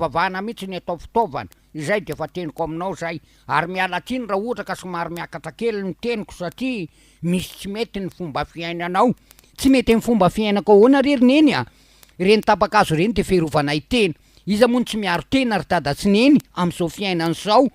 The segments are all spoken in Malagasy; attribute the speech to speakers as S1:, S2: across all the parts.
S1: Vavahana mihitsy ny atao fitaovana, izay dia efa teniko aminao izay, ary miala tsiny raha ohatra ka somary miakatra kely ny teniko satria misy tsy mety ny fomba fiainanao. Tsy mety amin'ny fomba fiainako ahoana re ry neny a! Ireny tapa-kazo ireny dia fiarovana ny tena. Iza moa no tsy miaro tena ry dada sy neny amin'izao fiainana izao?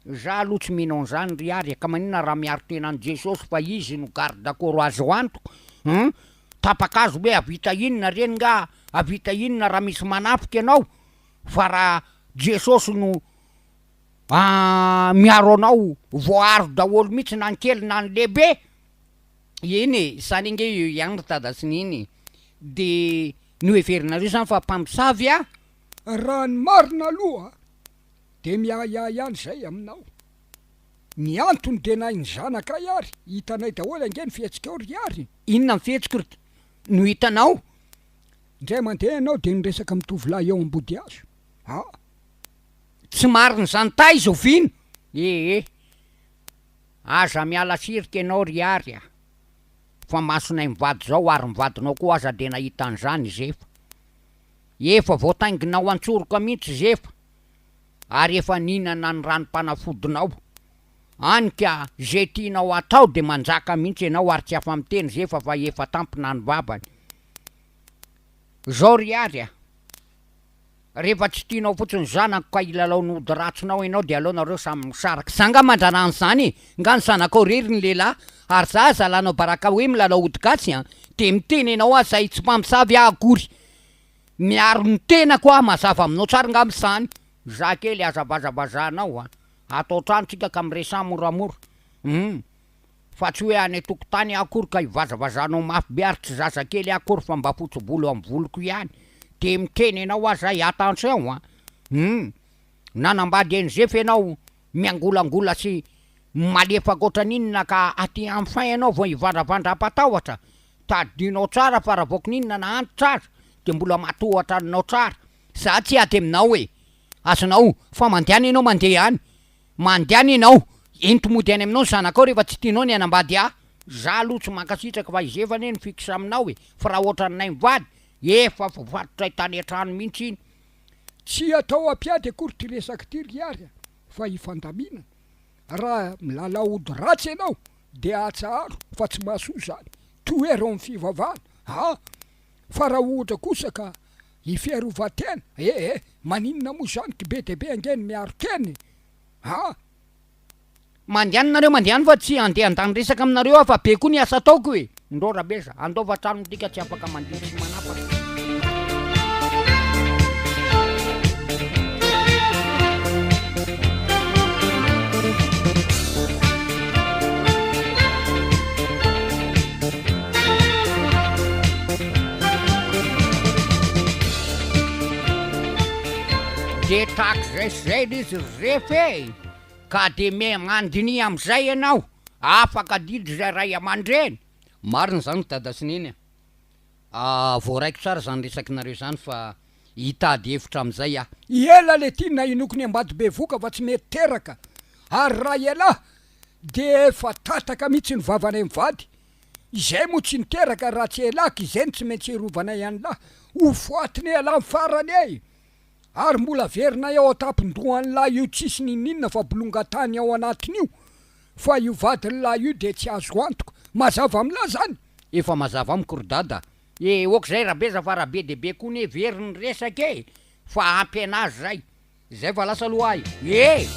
S1: Za aloha tsy mino an'zany ry Ary e, ka maninona raha miaro tena an'i Jesosy fa Izy no garde corps azo antoka hein? Tapaka azy hoe havita inona reny nga? Havita inona raha misy manafika ianao? Fa raha Jesosy no miaro anao, voaaro daholo mihitsy na ny kely na ny lehibe! Eny e, izany ange eo ihany ry Dada sy Neny e! De noheverinareo izany fa mpamosavy an? Raha ny
S2: marina aloha Dia miahiahy ihany izay aminao. Ny antony dia nahy ny zanakay ary hitanay daholo ange ny fihetsikao ry Ary. Inona ny fihetsiko ry
S1: no hitanao? Indray
S2: mandeha ianao dia niresaka amin'ny tovolahy eo Ambodihazo. Ah! Tsy
S1: marina izany taiza oviana? Ee, aza miala sirika ianao ry Ary a! Fa masonay mivady izao ary ny vadinao koa aza dia nahita an'izany izy efa. Efa voatainginao an-tsoroka mihitsy Zefa ary efa nihinana ny ranom-panafodinao any ka ze tianao hatao de manjaka mihitsy enao ary tsy afa-miteny Zefa fa efa tampina ny vavany zao ry Ary a! Rehefa tsy tianao fotsiny ny zanako ka hilalaon'ny ody ratsinao enao de aleo nareo samy misaraka. Zanga mandrara an'izany e! Nga ny zanakao rery ny lehilahy ary za zalanao baraka hoe milalao ody gasy an de miteny enao aho zay tsy mpamosavy aho akory miaro ny tenako aho mazava aminao tsara ngamba izany. Za kely aza vazabazahanao a! Ato an-trano tsika ka miresaha moramora hum! Fa tsy hoe any an-tokotany aho akory ka hivazavazahanao mafy be ary tsy zazakely aho akory fa mba fotsy volo amin'ny voloko ihany de miteny enao aho zay attention a! Hum! Nanambady an'i Zefa enao Miangolangola sy malefaka ohatran'inona ka aty en fin ianao vao hivandravandra am-patahotra? Tadidinao tsara fa raha vao kininina na antitra aza dia mbola matohatra anao tsara. Za tsy aty aminao e! Azonao fa mandehana ianao mandeha ihany! Mandehana ianao! Ento mody any aminao ny zanakao rehefa tsy tianao ny hanambady ahy! Za aloha tsy mankasitraka fa izefany e ny fixe aminao e! Fa raha ohatran'ny nay mivady, efa voafatotray tany an-trano mihitsy iny! Tsy atao
S2: ampiady akory ty resaky ty ry Iary a, fa hifandaminana. Raha milalao ody ratsy ianao dia atsaharo fa tsy mahasoa zany. Tohero ny fivavahana a! Fa raha ohatra kosa ka i fiarovan-tena ee, maninona moa zany, ky be dia be ange ny miaro tena e! a!
S1: Mandehana nareo mandehana fa tsy handeha handany resaka aminareo aho fa be koa ny asa ataoko e! Ndrô Rabesa, handaova trano minty ka tsy afaka mandihy sy manapaka. Dia trakzay zay l'izy ref e! Ka dia me mandiniha amin'izay ianao, afaka adidy izay ray aman-dreny. Marina izany ry dada sy neny a! voaraiko tsara izany resakinareo izany fa hitady hevitra amin'izay aho. I Ela le ty
S2: nahinoko ny ambady bevoka fa tsy mety teraka ary raha ialahy de efa tataka mitsy ny vavanay mivady izay moa tsy niteraka raha tsy elaka izay no tsy maintsy irovanay anlah ho foatiny elah farany ey Ary mbola averinay ao an-tampon-dohan'lah io tsisy ninininona fa bolongan-tany ao anatiny io, fa io vadin'lah io dia tsy azo antoka. Mazava amin'lah zany? Efa mazava
S1: amiko ry dada a! E, ok'izay rabeza fa raha be dia be koa ny heveriny resaka e! Fa ampy an'azy zay! Zay fa lasa aloha ahy e!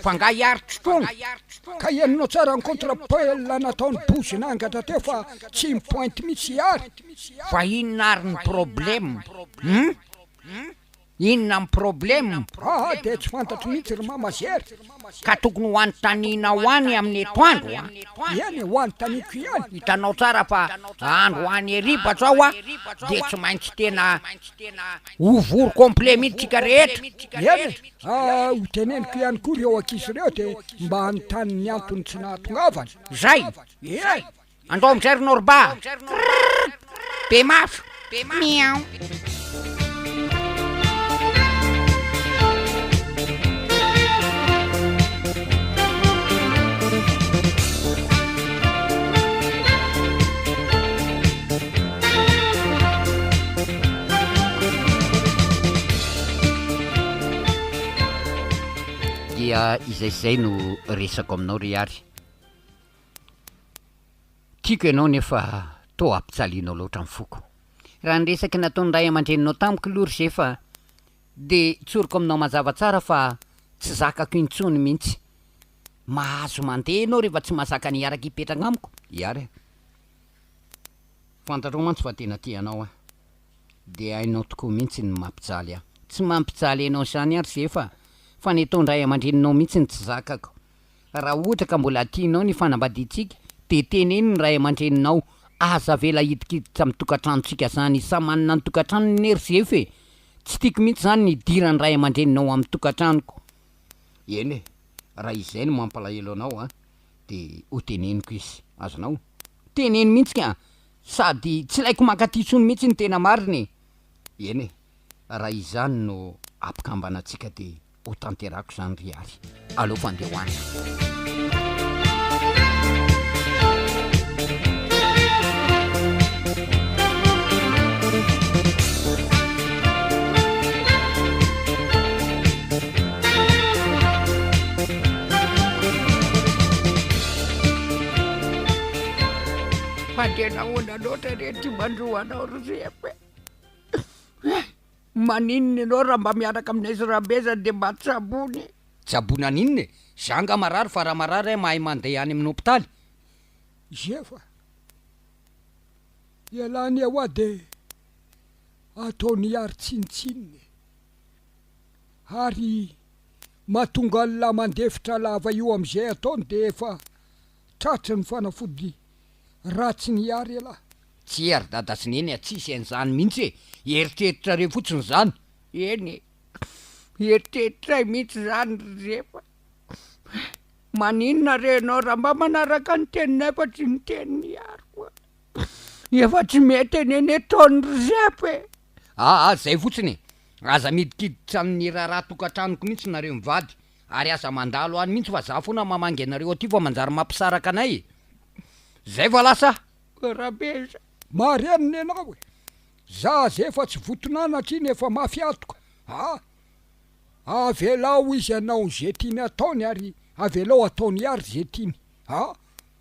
S2: Fa nga hiaritra
S1: foana? Ka henonao
S2: tsara ny contre pel nataony Bouzy nangatra teo fa tsy mi pointe mitsy i Ary. Fa inona
S1: ary ny problème? Hum? Inona ny problème? Ah dia tsy
S2: fantatro mihitsy ry mama Zera. Ka tokony ho
S1: anontaninao any amin'ny etoandro a! Eny e, ho
S2: anontaniko ihany. Hitanao tsara fa
S1: andro any heriba zao a dia tsy maintsy tena ho vory complet mihitsy tsika rehetra. Eny e, Ka
S2: ho teneniko ihany koa ireo ankizy ireo dia mba hanontany ny antony tsy nahatongavany. Zay! Ee! Andao
S1: amin'izay ry Norba a! Krrrrrrr! Be mafy! Miaou! Dia izay sy izay no resako aminao ry Ary. Tiako ianao nefa toa ampijalianao loatra ny foko. Raha ny resaka nataon'ny ray aman-dreninao tamiko aloha ry Zefa dia tsoriko aminao mazava tsara fa tsy zakako intsony mihitsy. Mahazo mandeha ianao rehefa tsy mahazaka ny hiaraka hipetraka amiko, i Ary a! Fantatrao mantsy fa tena tia anao aho. Dia hainao tokoa mihitsy ny mampijaly ahy. Tsy mampijaly anao izany aho ry Zefa, fa ny ataon-dray aman-dreninao mihitsy no tsy zakako. Raha ohatra ka mbola tianao ny fanambadiantsika, dia teneno ny ray aman-dreninao, aza avela hidikiditra amin'ny tokantranontsika izany. Samy manana ny tokantranony anie ry Zefa e! Tsy tiako mihitsy izany ny hidiran'ny ray aman-dreninao amin'ny tokantranoko. Eny e, raha izay no mampalahelo anao an! de ho teneniko izy, azonao? teneno mihitsy ka! sady tsy ilaiko mankaty intsony mihitsy ny tena marina e! eny e! raha izany no ampikambanantsika de ho tanterahako izany ry Hary, aleoko andeha ho any. Fa dia nahoana loatra re ty mandro anao ry Reko e? Eh, maninona ianao raha mba miaraka aminay sy Rabezany dia mba tsaboina e? Tsaboina an'inona e? Za nga marary fa raha marary aho mahay mandeha any amin'ny hopitaly.
S2: Zefa, ialany eo hoa dia ataon'i Ary tsinontsinona e! Ary mahatonga an'la mandefitra lava io amzay ataony de efa tratry ny fanafody ratsiny iary elah. Tsia ry dada
S1: sy neny a, tsisy an'izany mihitsy e, eritreritrareo fotsiny izany. Eny e, eritreritrray mihitsy izany ry Zefa. Maninona re ianao raha mba manaraka ny teninay fa tsy ny tenin'i Iary koa. Efa tsy mety anie ny ataony ry Zefa e. Aa zay fotsiny e! Aza midikiditra amin'ny raharaha tokantranoko mihitsy nareo mivady ary aza mandalo any mihitsy fa za foana mamangy anareo aty fa manjary mampisaraka anay e! Zay fa lasa a! Rabezy a! Marihana
S2: ny anao e! Za aza efa tsy voton'anatra iny efa mafy antoka aa! Avelao izy hanao ze tiany ataony ary avelao ataony ary ze tiany aa!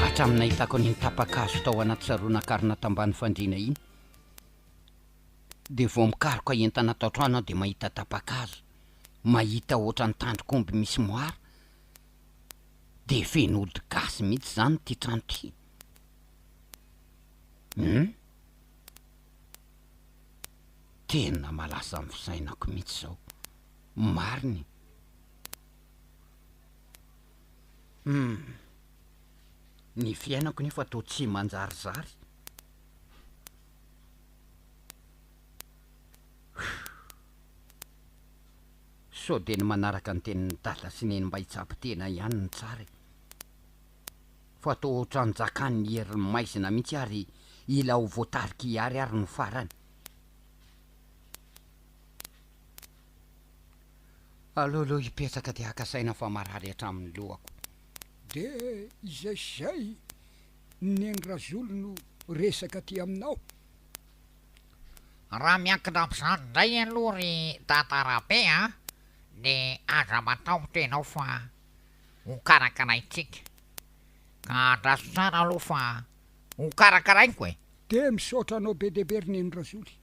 S1: Hatramin'ny nahitako an'iny tapa-kazo tao anaty saronan-karona tambany fandriana iny dia vao mikaroka entana ato an-trano aho dia mahita tapa-kazo, mahita ohatran'ny tandrok'omby misy moara, dia feno ody gasy mihitsy izany ity trano ity. Hum. Tena malaza amin'ny fisainako mihitsy izao. Marina e. Humm. Ny fiainako nefa toa tsy manjarizary. Huuh. Sao dia ny manaraka ny tenin'i Dada sy Neny mba hitsabo tena ihany no tsara e. Fa toa ohatran'ny jakan'ny herin'ny maizina mihitsy ary ila ho voatarik'i Ihary ary no farany. Aleo aloha hipetraka dia haka saina fa marary hatramin'ny lohako. Dia
S2: izay sy izay neny Razolo no resaka aty aminao?
S3: Raha miankina amin'izany indray aloha ry Dada Rabe a, dia aza matahotra ianao fa hokarakaraintsika. Ka andraso tsara aloha fa hokarakaraiko e! Dia misaotra
S2: anao be dia be ry neny Razoly.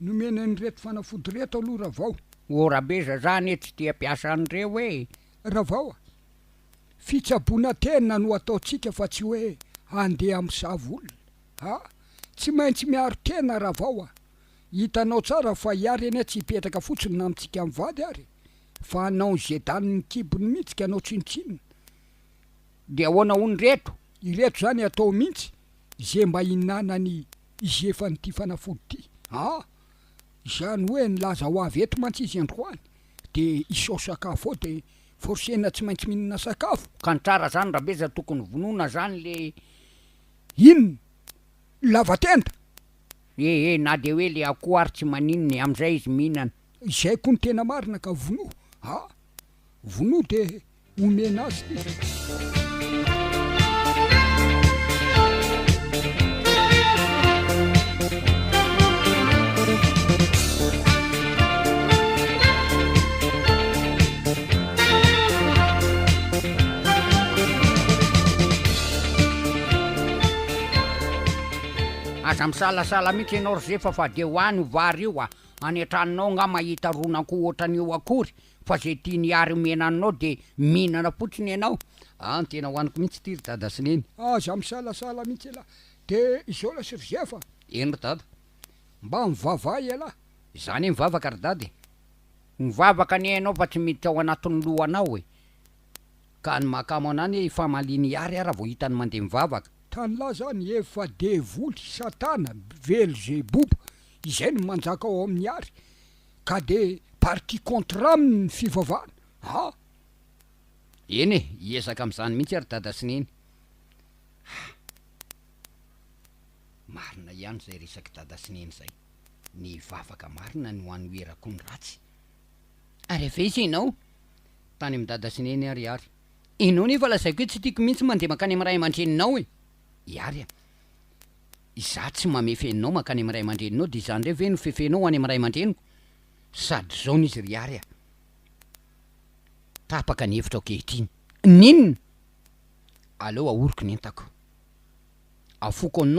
S2: Nomena an'ireto fanafody ireto aloha Ravao. O Rabeza za
S1: anie tsy tia mpiasa an'ireo e! Ravao a!
S2: Fitsaboana tena no ataontsika fa tsy hoe handeha misava olona a! Tsy maintsy miaro tena Ravao a! Hitanao tsara fa iary anie tsy hipetraka fotsiny na mitsika mivady ary fa hanao ny zedan ny kibony mihitsy ka anao tsinontsinona.
S1: Dia ahoana hono ireto? Ireto izany atao
S2: mihitsy ze mba hinanany Hizefa an'ity fanafody ity aa! Izany hoe nilaza ho avy eto mantsy izy androany de isao sakafo ao de forcena tsy maintsy mihinana sakafo. Ka ny tsara zany
S1: Rabeza tokony vonoina zany le inn
S2: lava tenda.
S1: Eh eh na de hoe le akoho ary tsy maninona e, amzay izy mihinana. Izay koa no tena
S2: marina ka vonoa aa! Vonoa de Omena azy
S1: Aza misalasala mihitsy ianao ry zefa fa dia ho any vary io a, any an-tranonao angaha mahita ronan-ko ohatran'io akory Fa ze tiany hiary omena anao de mihinana fotsiny ianao an tena hoaniko mihitsy ity ry dada sy neny. Aza misalasala
S2: mihitsy elah de izaona sy r'izay fa. Eny ry dada.
S1: Mba
S2: mivavaha ialahy. Za anie mivavaka
S1: ry dada e. Mivavaka anie ianao fa tsy miditra ao anatin'ny lohanao e. Ka ny mahakamo anah anie ifamaliany hiary ara vao hitany mandeha mivavaka. Tanlah zany
S2: efa devoly, satana, belzeboba, izay no manjaka ao amin'ny hiary. ka de partie contre aminy ny fivavahana a!
S1: Eny e, hiezaka amin'izany mihitsy ary Dada sy Neny a! Marina ihany izay resak'i Dada sy Neny izay, ny hivavaka marina no hanoherako ny ratsy. Ary avy aiza ianao? Tany amin'i Dada sy Neny ary Ihary. Ianao nefa lazaiko hoe tsy tiako mihitsy mandeha mankany amin'ny ray aman-dreninao e! Ihary a! Izaho tsy mamefe anao mankany amin'ny ray aman-dreninao dia izaho indray ve no fefenao ho any amin'ny ray aman-dreniko? Sady izao no izy ry Ary a! Tapaka ny hevitra ankehitriny. N'inona? Aleo ahoriko ny entako. Afoko anao.